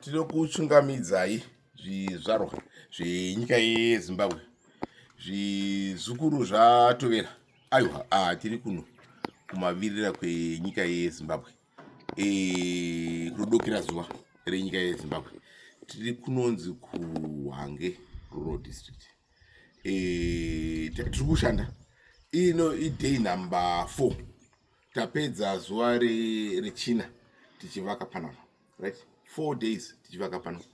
tinokuchungamidzai zvizvarwa zvenyika yezimbabwe zvizukuru zvatovera aiwa ah, tiri kuno kumavirira kwenyika yezimbabwe e, eh, kudokera zuva renyika yezimbabwe tiri kunonzi kuhange rural district e, tiri kushanda ino iday number four tapedza zuva rechina tichivaka panapa right four days tichivaka panapa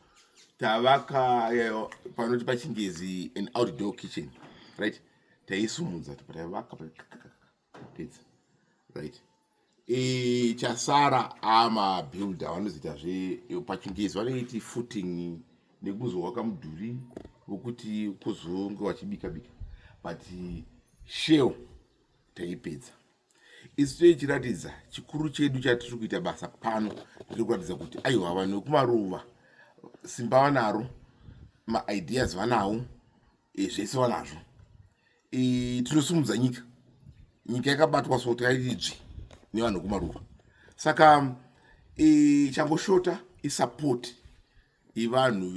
tavaka eh, panoti pachingezi an outdoor kitchen right taisumudza topatavaka tapedza right e, chasara ama builder vanozoita zve pachingezi vanoiti footing nekuzowaka mudhuri wokuti kuzonge wachibika bika but shell taipedza isu toichiratidza chikuru chedu chatiri kuita basa pano tiri kuratidza kuti aiwa vanhu vekumaruva simba vanaro maideas vanawo e, zvese vanazvo e, tinosimudza nyika nyika yakabatwa so tairidzvi nevanhu kumaruva saka e, changoshota isapoti ivanhu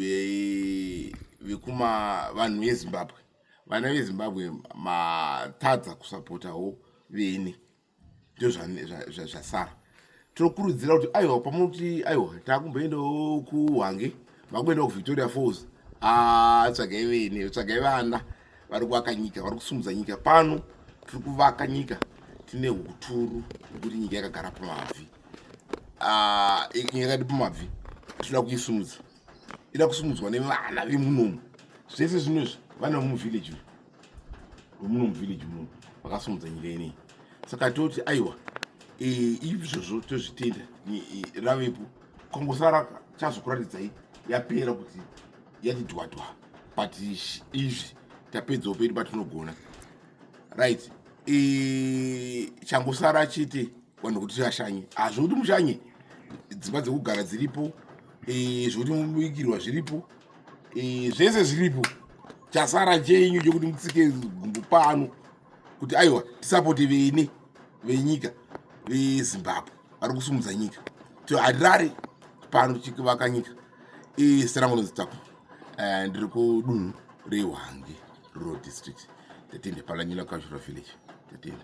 vekuma vanhu vezimbabwe vana vezimbabwe matadza kusapotawo vene ndozvasara tinokurudzira kuti aiwa pamuti aiwa takumboendawo kuhwange vakuendawo kuvictoria falls ah, tsvagai vene tsvagai vana vari kuvaka nyika vari kusumudza nyika pano tiri kuvaka nyika tine uturu hwekuti nyika yakagara pamabvi ah, nyika yakati pamabvi tinoda kuisumudza ida kusumudzwa nevana vemunomu zvese zvino izvi vana vemuvillage uyu muno muvillage muno vakasumudza nyika inei saka toti aiwa e, izvozvo tozvitenda ravepo kongosara chazokuratidzai yapera kuti yati dwadwa but izvi tapedzawo pedu patinogona right e, changosara chete vanhu kuti tiashanye hazvo kuti mushanye dzimba dzekugara dziripo e, zvokuti mubikirwa zviripo e, zvese zviripo chasara chenyu chekuti mutsike gumbo pano kuti aiwa tisapote vene venyika vezimbabwe vari kusumudza nyika to harare pano tichivaka nyika e, serangu nezitako e, ndiri kudunhu rehwange rural district tatende palanyina kashura village tatende